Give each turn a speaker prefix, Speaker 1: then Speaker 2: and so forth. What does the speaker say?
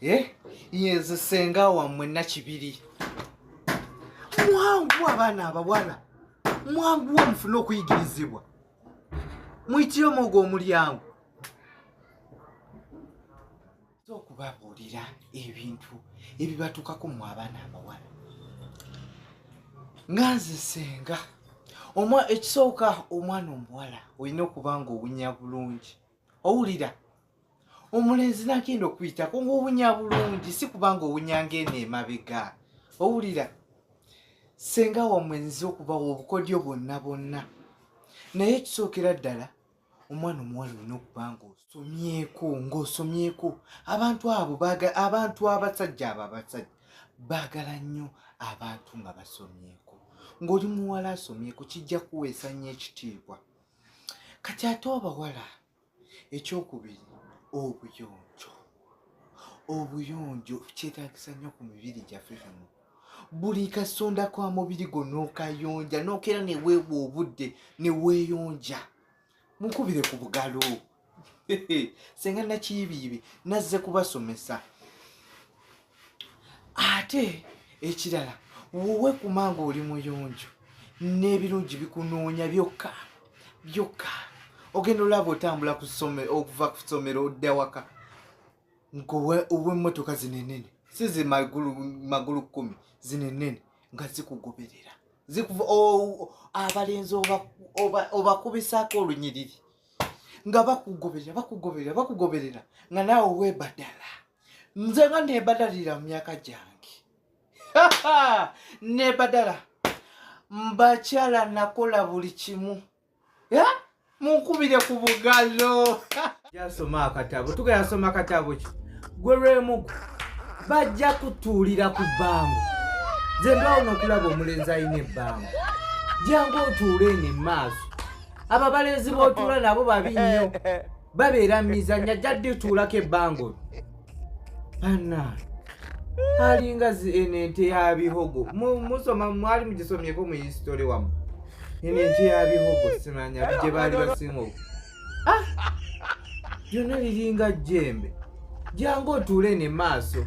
Speaker 1: Eh? yeze senga wammwe nakibiri mwangu abaana abawala mwangu wa mufune okuyigirizibwa muyitire omwogo omulyango okubabuulira ebintu ebibatuukako mu abaana abawala nga nze senga ekisooka omwana omuwala olina okuba nga owunya bulungi owulira omulenzi nagenda okuyitako ngaowunya bulungi si kubanga owunya ngaeno emabega owulira senga wamwenzi okubawa obukodyo bwonna bwonna naye ekisookera ddala omwana omuwala olina okuba nga osomyeko ngaosomyeko abantu abo abantu abasajja abo abasajja baagala nnyo abantu nga basomyeko ng'oli muwala asomyeko kijja kuweesa nnyo ekitiibwa kati ate obawala ekyokubiri obuyonjo obuyonjo kyetagisa nnyo ku mibiri gyaffe kano buli kasonda kwa mubiri gwo nokayonja nokeera neweebwa obudde neweeyonja mukubire ku bugalo senga nakiyibiyibi nazze kubasomesa ate ekirala wowe kumanga oli muyonjo n'ebirungi bikunoonya byokka byokka ogenda olaba otambula okuva ku ssomero odda waka ngaowemmotoka zinenene si ze magulu kkumi zinenene nga zikugoberera zikuva abalenzi obakubisako olunyiriri nga bakugoberera bakugoberera bakugoberera nga naawe webadala nze nga nebadalira mu myaka gyange nebadala mbakyala nakola buli kimu munkubire ku bugalo yasoma akatabo tugenda asoma akatabo ki gwe lwemugu bajja kutuulira ku bbango nze ndawo nokulaba omulenzi alina ebbango jangu otuule eno emaaso abo abalenzi botuula nabo babi nnyo babeera mizanya ajja dituulako ebbango bana alinga eno ente ya bihogo musoma mwali mugisomyeko mu hisitole wamu eno ente ya bihogo simanya bigye baali basinga oku ah! lyonna liringa jjembe jangu otuule ne maaso